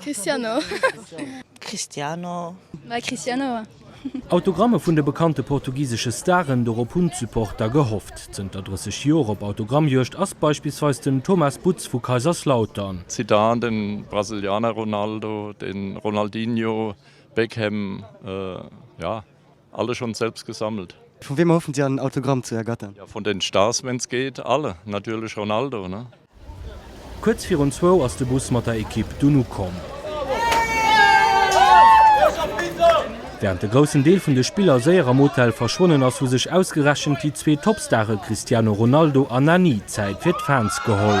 Cristiano Cristiano Well Cristiano. Autogramme vun de bekannte portugisesche Staren, dorop hunn d'Supporter gehofft. Zënter 30 Joer op Autogrammjuegd ass beispillsweis den Thomas Butz vu Kaiserslautern. Zidane, den Brasilianer Ronaldo, den Ronaldinho, Beckham, jo. Alle schon selbst gesammelt. Von wem erhoffen Sie ein Autogramm zu ergattern? Ja, von den Stars, wenn's geht, alle, natürlich Ronaldo, ne? Kuerz virun zwou ass de Bus mat der Ekipp dunn ukomm. Wärend de groussen Deel vun de Spiller séier am Hotel verschwonnen ass, hu sech ausgerechent déi zwee Topstare Cristiano Ronaldo a Nani Zäit fir d'Fans geholl.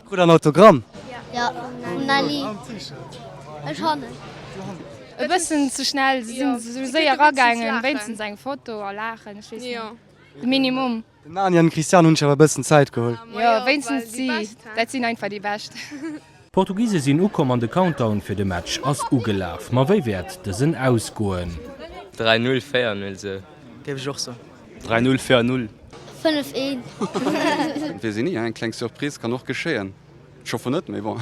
Krut en Autogramm? Jo, vum Nelly. Ech han en. E bëssen ze schnell, se sinn esou séier eragaangen, wéinstens eng Foto a laachen, ech weess net, de Minimum. Den Nani an den Christian hunn sech awer e bëssen Zäit geholl. Jo, wéinstens si, dat sinn einfach déi Bescht. D'Portugise sinn ukomm an de Countdown fir de Match ass ugelaf. Ma wéi wäert dësen ausgoen? 3, 0, 4, 0 sou. Géif ech och soen. 3 null fir null. 5 een. Wees een nie, eng kleng Surprise kann och geschéien. Schoffe net, mee bon.